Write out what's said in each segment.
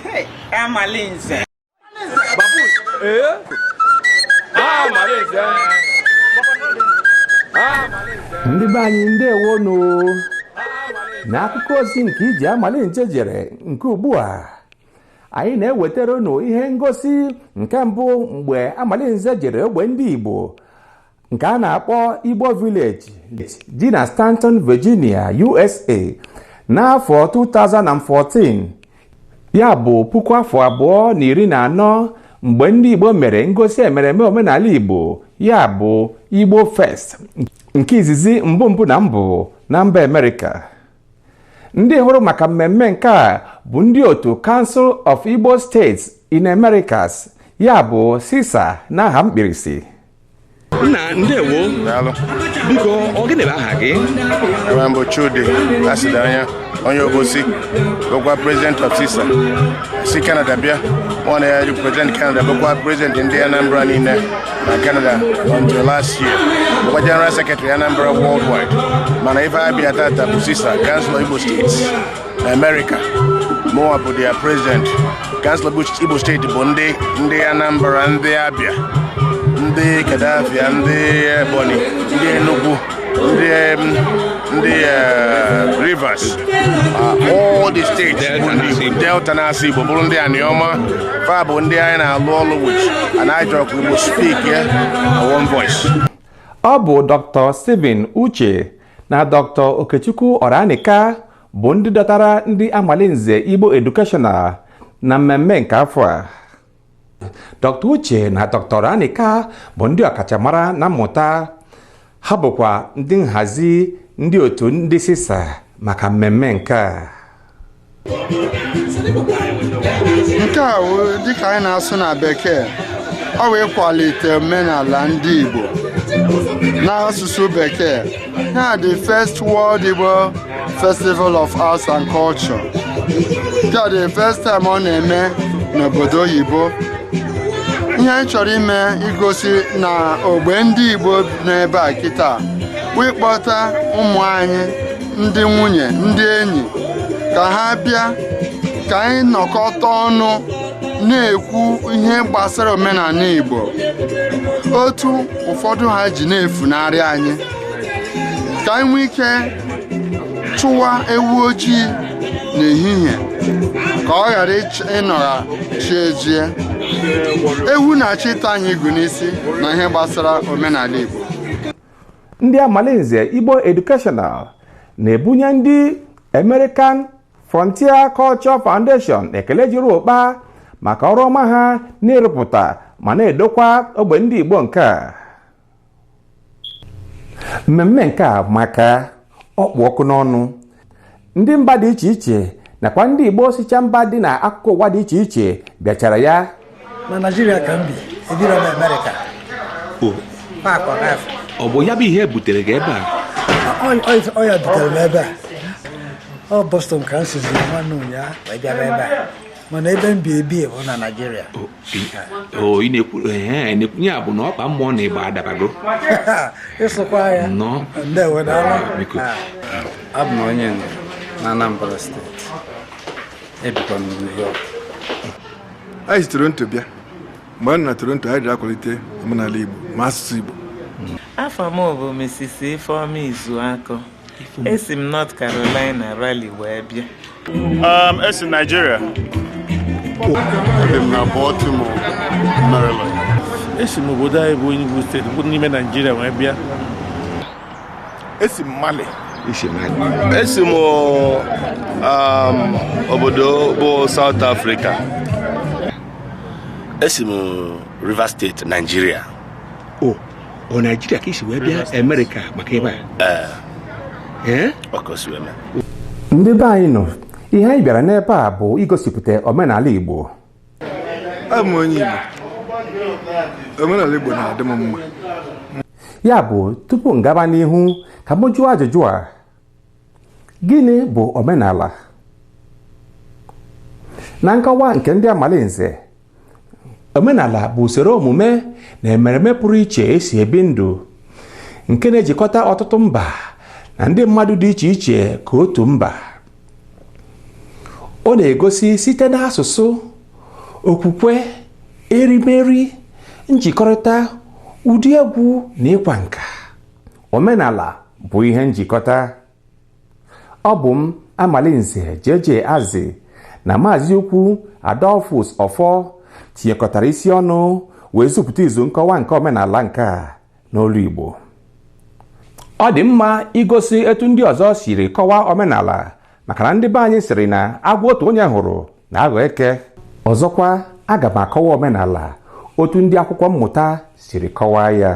Hey, Amalinze. Babus. Eh? Ah, Amalinze. Ah, Ndị be anyị ndewo nụ n'akụkọ ozi nke ije Amalinze jere nke ugbu a anyị na-ewetara unu ihe ngosi nke mbụ mgbe Amalinze jere ogbe ndị Igbo nke a na-akpọ Igbo Village dị na Staunton, Virginia, USA n'afọ 2014 ya bụ puku afọ abụọ na iri na anọ mgbe ndị Igbo mere ngosi emereme omenala Igbo ya bụ Igbo Fest nke izizi mbụ mbụ na mbụ na mba Amerịka ndị hụrụ maka mmemme nke a bụ ndị otu Council of Igbo States in Americas ya bụ CISA n'aha mkpirisi nna ndewo daalụ biko ọ gịnị bụ aha gị ebe m bụ chudi asidianya onye obosi bụkwa president of cisa si canada bịa mụnwa na-represent canada bụkwa president ndị anambra niine na canada until last year bụkwa general secretary anambra worldwide mana ife a bịa tata bụ cisa council igbo state America mụnwa bụ their president Council Igbo State bụ ndị ndị Anambra ndị Abia ndị Kadafia ndị Ebonyi ndị Enugu ndị ndị eh, Rivers ah, all the states bụ ndị Delta na-asụ Igbo bụrụ ndị Anioma fa bụ ndị anyị na-alụ ọlụ which anyị chọ ka Igbo speak ya one voice ọ bụ Dr. Stephen Uche na dr okechukwu ọranika bụ ndị dọtara ndị amalinze igbo educational na mmemme nke afọ a dr uche na dr ọranika bụ ndị ọkachamara na mmụta ha bụkwa ndị nhazi ndị otu ndị cisa maka mmemme nke a nke a wụ dịka anyị na-asụ na bekee ọ wụ ịkwalite omenala ndị Igbo n'asụsụ bekee na the first world Igbo festival of arts and culture nke the first time ọ na-eme n'obodo oyibo ihe anyị chọrọ ime igosi na ogbe ndị Igbo n'ebe a kịta wụ ịkpọta ụmụ anyị ndị nwunye ndị enyi ka ha bịa ka anyị nọkọta ọnụ na-ekwu ihe gbasara omenala Igbo otu ụfọdụ ha ji na-efunarị anyị ka anyị nwee ike chụwa ewu ojii n'ehihie ka ọ ghara ịnọgha chi ejie ewu na-achọ ịta anyị igu n'isi na ihe gbasara omenala Igbo ndị amalinze igbo educational na-ebunye ndị american frontier culture foundation ekele juru ụkpa maka ọrụ ọma ha n'ịrụpụta ma n'idokwa ogbe ndị igbo nke a mmemme nke a amaka ọ kpụ ọkụ n'ọnụ ndị mba dị iche iche nakwa ndị igbo sicha mba dị na akụkụ ụwa dị iche iche bịachara ya na naijiria ka m bi ebiro m amerịka ọ bụ ya bụ ihe butere gị ebe a ọ ya butere m ebe a ọ bọstọn ka m sizi nwanne ụnyaahụ wee bịaba ebe a mana ebe m bi ebi bụ na Naịjirịa na-ekwunye ya bụ na ọkpa mmụọ na ịgba adabago ịsụkwa ya abụ m onye na Anambra steeti ebikwa m New York anyị si Toronto bịa mgbe anyị na Toronto anyị ji akwalite omenala Igbo ma asụsụ Igbo afa m bụ Mrs. Ifeoma Izuakọ esi m North Carolina Raleigh wee bịa um, esi Nigeria ebi m na Baltimore Maryland esi m obodo anyị bụ Enugu steeti bụ n'ime Nigeria wee bịa esi m Mali esi m um, obodo bụ South Africa esi m Rivers State Nigeria oh. ọ naijiria ka i si wee bịa amerịka maka ebe a ndị be anyị nọ ihe anyị bịara n'ebe a bụ igosipụta omenala igbo abụ m onye igbo omenala igbo na-adị m mma ya bụ tupu m gaba n'ihu ka m jụọ ajụjụ a gịnị bụ omenala na nkọwa nke ndị amalinze omenala bụ usoro omume na emereme pụrụ iche e si ebi ndụ nke na-ejikọta ọtụtụ mba na ndị mmadụ dị iche iche ka otu mba ọ na-egosi site n'asụsụ okwukwe erimeri njikọrịta ụdị egwu na ịkwa nka omenala bụ ihe njikọta ọ bụ m amalinze JJ Azị na Maazị Ukwu Adolphus Ọfọ tinyekọtara isi ọnụ wee zupụta izu nkọwa nke omenala nke a n'olu Igbo ọ dị mma igosi etu ndị ọzọ siri kọwaa omenala maka na ndị be anyị sịrị na agwọ otu onye hụrụ na-aghọ eke ọzọkwa aga m akọwa omenala otu ndị akwụkwọ mmụta siri kọwaa ya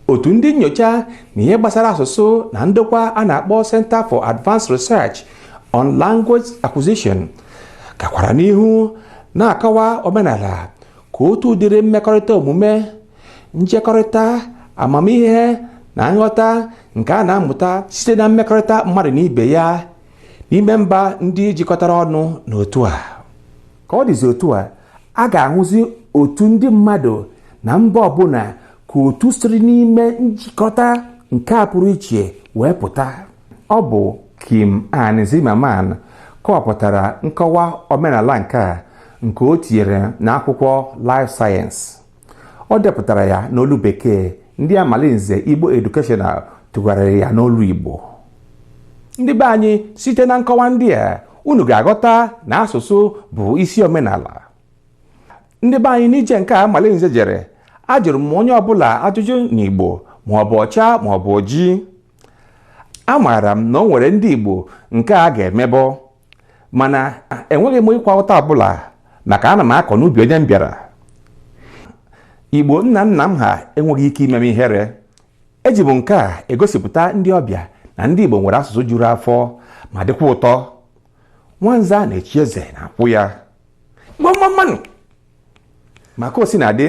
otu ndị nyocha na ihe gbasara asụsụ na ndokwa a na-akpọ Center for Advanced Research on Language Acquisition gakwara n'ihu na-akọwa omenala ka otu ụdịrị mmekọrịta omume njekọrịta amamihe na nghọta nke a na-amụta site na mmekọrịta mmadụ na ibe ya n'ime mba ndị jikọtara ọnụ n'otu a ka ọ dịzi otu a a ga-ahụzi otu ndị mmadụ na mba ọbụla ka otu siri n'ime njikọta nke a pụrụ iche wee pụta ọ bụ Kim Ann Zimmermann kọwapụtara nkọwa omenala nke a nke o tinyere n'akwụkwọ Live Science ọ depụtara ya n'olu bekee ndị amalinze igbo educational tụgharịrị ya n'olu igbo ndị be anyị site na nkọwa ndị a unu ga-aghọta na asụsụ bụ isi omenala ndị be anyị n'ije nke a amalinze jere ajụrụ m onye ọbụla ajụjụ n'igbo ma ọ bụ ọcha ma ọ bụ oji amaara m na o nwere ndị igbo nke a ga-emebọ mana enweghị m ịkwa ụta ọbụla maka ana m akọ n'ubi onye m bịara igbo nna nna m ha enweghị ike ime m ihere eji m nke a egosipụta ndị ọbịa na ndị igbo nwere asụsụ juru afọ ma dịkwa ụtọ nwanza na-echi eze n'akwụ ya igbo mmammanụ maka osi na adị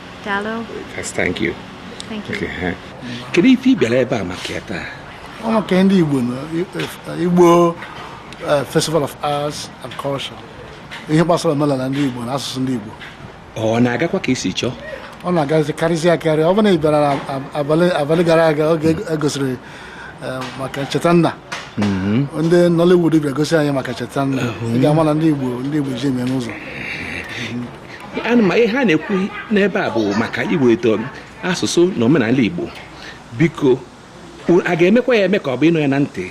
Daalụ. That's thank you. Thank you. Okay, eh. Kedu ife ị bịara ebe a maka ya taa? Ọ maka ndị Igbo na Igbo eh, Festival of Arts and Culture. Ihe gbasara omenala ndị Igbo na asụsụ ndị Igbo. Ọ na-agakwa ka e si chọọ? Ọ na-agazi karịsịa akarị. Ọ bụrụ na ị bịara na ab- abalị abalị gara aga oge e gosiri eh, maka ncheta nna. Ndị Nollywood bịa gosi anyị maka ncheta nna. Ị ga-ama na ndị Igbo ndị Igbo ji eme n'ụzọ. anụ m ihe a na-ekwu n'ebe a bụ maka iweta asụsụ na omenala igbo biko u- a ga-emekwa ya eme ka ọ bụ ịnụ ya na ntị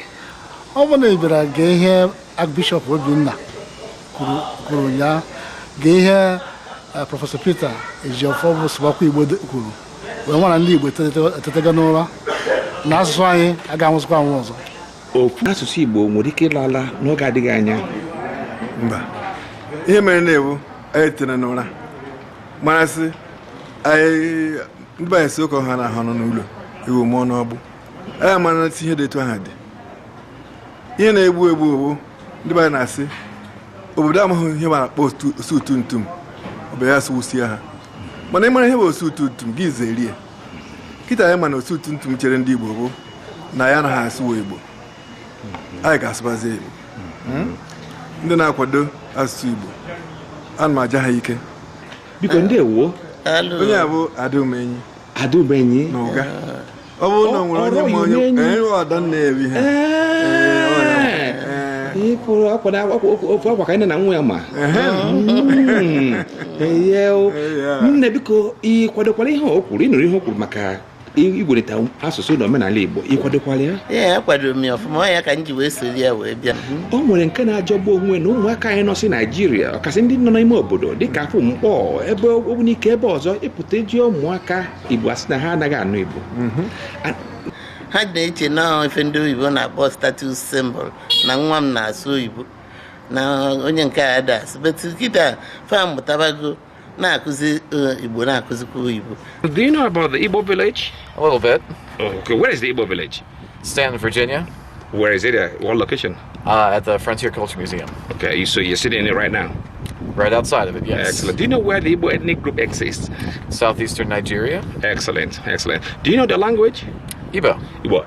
ọ bụrụ na ị bịara gee ihe Archbishop Obinna kwuru kwuru ụnyaahụ gee ihe eh, Prọfesọ Peter Ejiofor bụ Sụbakwa Igbo de- kwuru wee mara na ndị Igbo etetego- etetego n'ụra na asụsụ anyị agaghị anwụzikwa anwụ ọzọ okwu asụsụ Igbo nwere ike ịla ala n'oge adịghị anya mba ihe merenụ wụ anyị tere n'ụra mara sị anyị ndị be anyị sị oke ọha anahụ anọ n'ụlọ ewu mụọ n'ọgbụ anyị amara sị ihe dị etu ahụ dị ihe na-egbu egbu ọ wụ ndị be na-asị obodo amaghị ihe a na-akpọ osu utu ntum ọ bụ ya sụwusie ha mana ị mara ihe bụ osu utu ntum gị zerie kịta anyị ma na otu otu ntụ chere ndị Igbo bụ na anyị anaha asụwa Igbo anyị ga-asụbazi Igbo hmm? ndị na-akwado asụsụ Igbo ana m aja ha ike biko ndewo onye a bụ Adaumenyi Adaumenyi na Uga ọ bụrụ na e nwere onye ma onye eh, ọda na-ebi ha ịkwụrụ akwa na akwa ka anyị na nwa ya ma hmm. nne biko ị kwadokwala ihe o kwuru ị nụrụ ihe o kwuru maka ịkwalite asụsụ na omenala Igbo ị kwadokwala ya ee akwadoro m ya ọfụma ya ka m ji wee soro ya wee bịa o nwere nke na-ajọgbu onwe na ụmụaka anyị nọsị Naijiria ọkasị ndị nọ n'ime obodo dịka Afọ Nkpọ ebe Ogbunike ebe ọzọ ị pụta ị jụọ ụmụaka Igbo a sị na ha anaghị anụ Igbo mhm. ha na-eche na ife ndị oyibo na-akpọ status symbol na nwa m na-asụ oyibo na onye nke a das betu kịta fa mụtabago na-akụzi eh, igbo na-akụzikwa oyibo Do you know about the Igbo village? A little bit. Oh, okay. Where is the Igbo village? Stanton, Virginia, Where is it? Uh, what location? uh, at the Frontier Culture Museum. Okay, you, so you're sitting in it right now. Right outside of it, yes. Excellent. Do you know where the Igbo ethnic group exists? Southeastern Nigeria. Excellent, excellent. Do you know the language? Igbo. Igbo.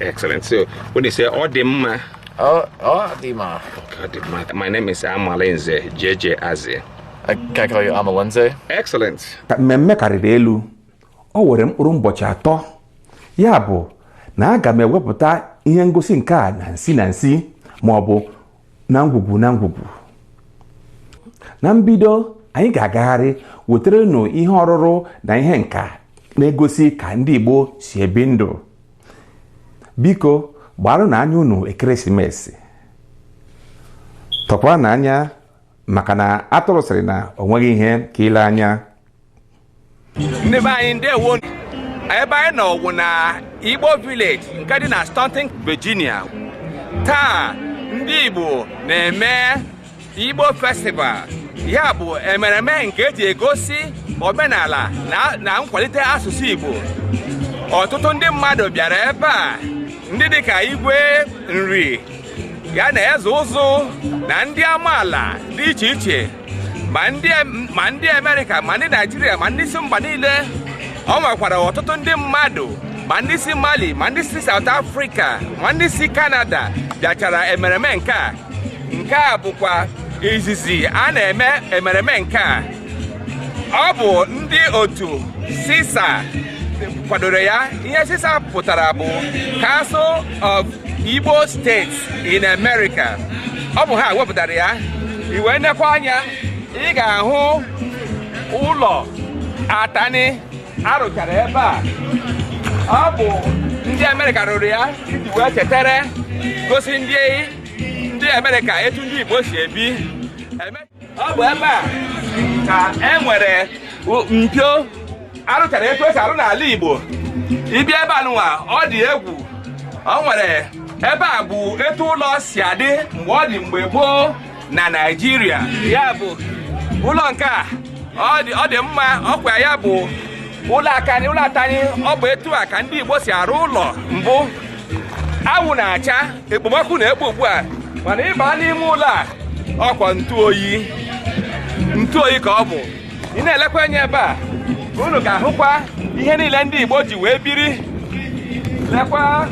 Excellent. So when you say ọ dị mma, Oh, ọ dị mma. Ọ dị mma, my name is Amalinze JJ Aze. I can I call you Amalinze? Excellent. ka mmemme karịrị elu o were mkpụrụ ụbọchị atọ ya bụ na aga m ewepụta ihe ngosi nke a na nsi na nsi ma ọ bụ na ngwugwu na ngwugwu na mbido anyị ga-agagharị wetere unu ihe ọrụrụ na ihe nka na-egosi ka ndị Igbo si ebi ndụ biko gbaarụnụ anya unu ekeresimesi tọkwaanụ anya maka na atụrụ sịrị na o nweghị ihe ka ile anya ndị be anyị ndewo ebe anyị nọ wụ na Igbo village nke dị na Staunton Virginia taa ndị Igbo na-eme Igbo Festival ya bụ emereme nke e ji egosi omenala na nkwalite asụsụ Igbo ọtụtụ ndị mmadụ bịara ebe a ndị dịka Igwe Nri ya na Eze Ụzụ na ndị amaala dị iche iche ma ndị Amerịka ma ndị Naijiria ma ndị si mba niile o nwekwara ọtụtụ ndị mmadụ ma ndị si Mali ma ndị si South Africa ma ndị si Canada bịachara emereme nke a nke a bụkwa izizi a na-eme emereme nke a ọ bụ ndị otu CISA kwadoro ya ihe CISA pụtara bụ Council of Igbo States in America ọ bụ ha wepụtara ya i wee nekwa anya ị ga-ahụ ụlọ atani a rụchara ebe a ọ bụ ndị amerịka rụrụ ya iji wee chetara gosi ndị ndị amerịka etu ndị igbo si ebi ọ bụ ebe a ka e nwere mpio a rụchara etu e si arụ n'ala igbo ị bịa ebe a nụwa ọ dị egwu o nwere ebe a bụ etu ụlọ si adị mgbe ọ dị mgbe gboo na Naịjirịa ya bụ ụlọ nke a ọ dị- ọ dị mma ọkwa ya bụ ụlọ akani ụlọ atani ọ bụ etu a ka ndị Igbo si arụ ụlọ mbụ anwụ na-acha ekpomọkụ na-ekpo ugbu a mana ị ba n'ime ụlọ a ọkwa ntụ oyi ntụ oyi ka ọ bụ ị na-elekwa anya ebe a unu ga-ahụkwa ihe niile ndị Igbo ji wee biri lekwa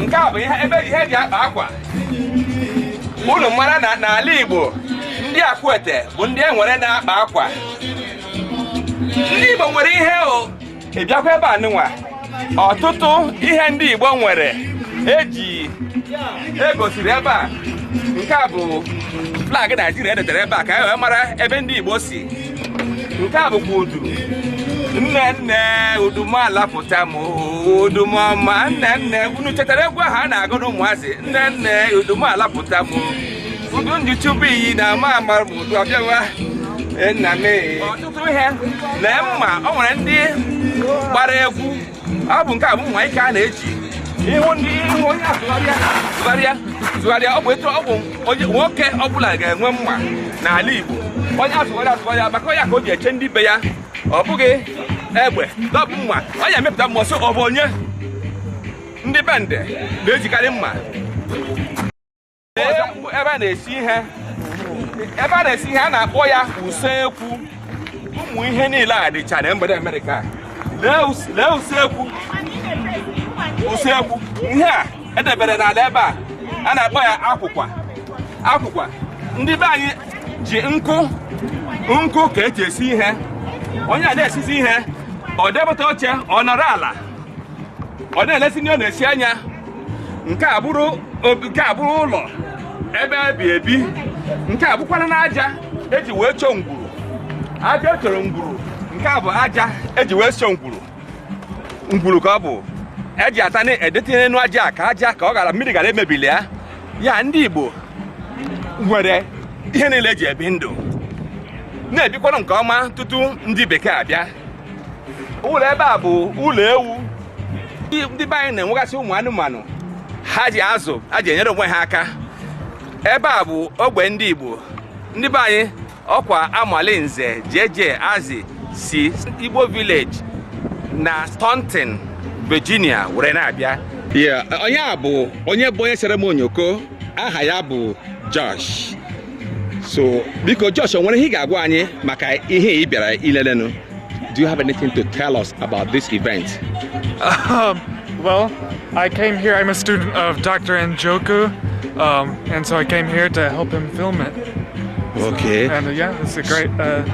nke a bụ ihe ebe ihe eji akpa akwa unu mara na n'ala Igbo ndị Akwete bụ ndị e nwere na-akpa akwa ndị Igbo nwere ihe o ị bịakwa ebe a nụnwa ọtụtụ ihe ndị Igbo nwere eji egosiri ebe a nke a bụ flag Naịjirịa edetara ebe a ka e wee mara ebe ndị Igbo si nke a bụkwa udu nne nne udu m alapụta m udu m ọma nne nne unu chetara egwu ahụ a na-agụ n'ụmụazị nne nne udu m alapụta m udu m ji chube iyi na ama amara m udu abịa waa nna m ọtụtụ ihe na mma o nwere ndị gbara egwu ọ bụ nke a bụ mma ike a na-eji ị hụ ndị ị hụ onye azụgharịa zụgharịa zụgharịa ọ bụ etu ọ bụ onye nwoke ọbụla ga-enwe mma n'ala Igbo onye azụgharịa azụgharịa maka ọ ya ka o ji eche ndị be ya ọ bụghị egbe ọ bụ mma ọ ya emepụta mma sọ ọ bụ onye ndị Bende na-ejikarị mma usekwu ebe a na-esi ihe ebe a na-esi ihe a na-akpọ ya usekwu ụmụ ihe niile a dịcha na mgbede Amerịka lee usekwu usekwu ihe a edebere n'ala ebe a a na-akpọ ya akwụkwa akwụkwa ndị be anyị ji nkụ nkụ ka eji esi ihe onye a na-esizi ihe o depụta oche ọ nọrọ ala ọ na-elesi nri ọ na-esi anya nke a bụrụ obi- nke a bụrụ ụlọ ebe ebi ebi nke a bụkwaranụ aja eji wee chọọ ngwuru aja echọrọ ngwuru nke a bụ aja eji wee chọọ ngwuru ngwuru ka ọ bụ eji atani edetinye n'elu aja a ka aja ka ọ ghara mmiri ghara emebili ya ya ndị Igbo nwere ihe niile eji ebi ndụ na-ebikwara nke ọma tutu ndị bekee abịa ụlọ ebe a bụ ụlọ ewu ndị be anyị na-enwegasị ụmụ anụmanụ ha ji azụ ha ji enyere onwe ha aka ebe a bụ ogbe ndị Igbo ndị be anyị ọkwa Amalinze jeje azi si Igbo village na Staunton Virginia were na-abịa onye a bụ onye bụ onye sere m onyoko aha ya bụ Josh so biko Josh o nwere ihe ị ga-agwa anyị maka ihe ị bịara ilelenu do you have anything to tell us about this event um, well I came here I'm a student of Dr. Njoku um, and so I came here to help him film it so, okay and uh, yeah it's a great uh,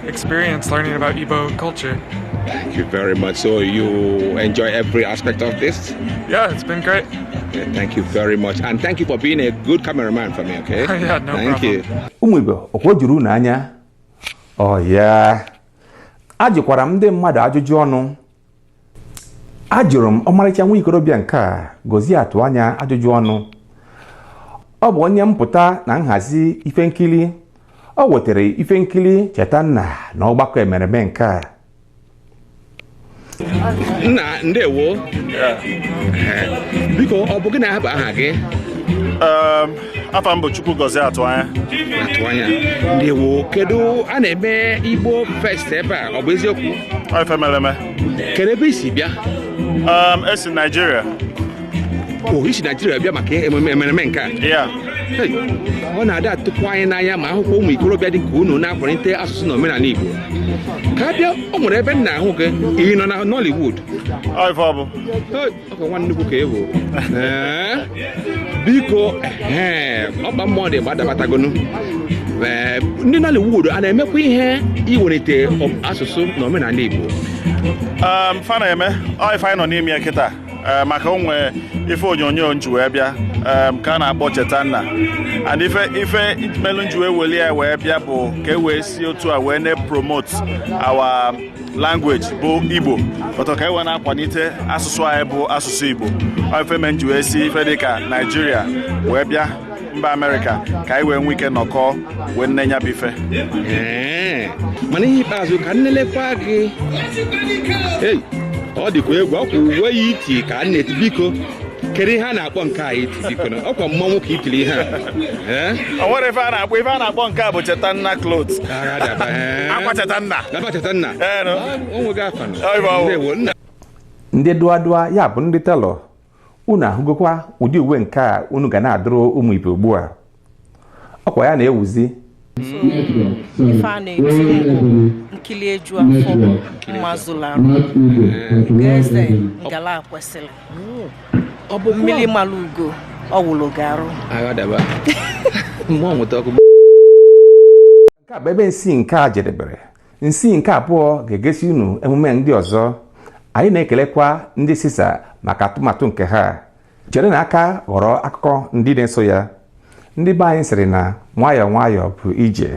experience learning about Igbo culture Thank you very much. So you enjoy every aspect of this? Yeah, it's been great. Yeah, thank you very much. And thank you for being a good cameraman for me, okay? yeah, no problem. Thank you. Ụmụ ibe, ọkwa o juru unu anya? Oh yeah. Ajụkwara m ndị mmadụ ajụjụ ọnụ. Ajụrụ m ọmarịcha nwa ikorobịa nke a Gozie Atụanya ajụjụ ọnụ. Ọ bụ onye mpụta na nhazi ife nkili. O wetara ife nkili Chetanna na ọgbakọ emereme nke a. nna ndewo biko ọ bụ gịnị ahụ bụ aha gị Um, afa m bụ Chukwugozie Atụanya Atụanya ndewo kedu a na-eme IgboFest ebe a ọ bụ eziokwu ọ ife mere eme kedu ebe i si bịa Um, esi m Naijiria o i si naijiria bịa maka emereme nke a ọ na-adị atụkwa anyị n'anya ma a hụkwa ụmụ ikorobịa dị ka unu na-akwalite asụsụ na omenala igbo ka bịa o nwere ebe m na-ahụ gị ị nọ na nollywood ọkwa nwanne nnukwu ka ewu biko ọkpa mmụọ dị gbadabatagonu ndị nollywood a na-emekwa ihe iwelite asụsụ na omenala igbo um, fa na-eme ọ ife anyị nọ n'ime ya kịta Eh, maka o nwe ife onyonyo m ji wee bịa eh, ka a na-akpọ Chetanna and ife ife melu m ji wee weli ya wee bịa bụ ka e wee si otu a wee na-promote our language bụ igbo ọtọ ka e wee na-akwalite asụsụ anyị bụ asụsụ igbo ife me m ji wee si ife dịka naijiria wee bịa mba amerịka ka anyị wee nwee ike nọkọọ wee nenee ya bụ ife mana ihe ikpeazụ ka m nelekwa gị ei ọ dịkwa egwu ọkwa uwe a i ti ka a na-eti biko kedu ihe a na-akpọ nke a i ti biko na ọkwa mmanwụ ka i tiri ihe a o nwere ife a na-akpọ ife a na-akpọ nke a bụ Chetanna cloth akwa Chetanna akwa Chetanna o nweghị afa ndewo nna ndị dụadụa ya bụ ndị tailor unu ahụgokwa ụdị uwe nke a unu ga na-adụrụ ụmụ ibe ugbu a ọkwa ya na-ewuzi ife a na-eti nkili eju afọ mma zulu arụ eze ngala kwesịrị mmiri mara ugo ọ wụrụ ugo arụ nke a bụ ebe nsi nke a jedebere nsi nke abụọ ga-egosi unu emume ndị ọzọ anyị na-ekelekwa ndị CISA maka atụmatụ nke ha chere na aka ghọrọ akụkọ ndị na-eso ya ndị be anyị sịrị na nwayọọ nwayọọ bụ ije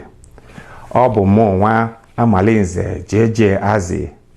ọ bụ mụ nwa Amalinze Jeje Azi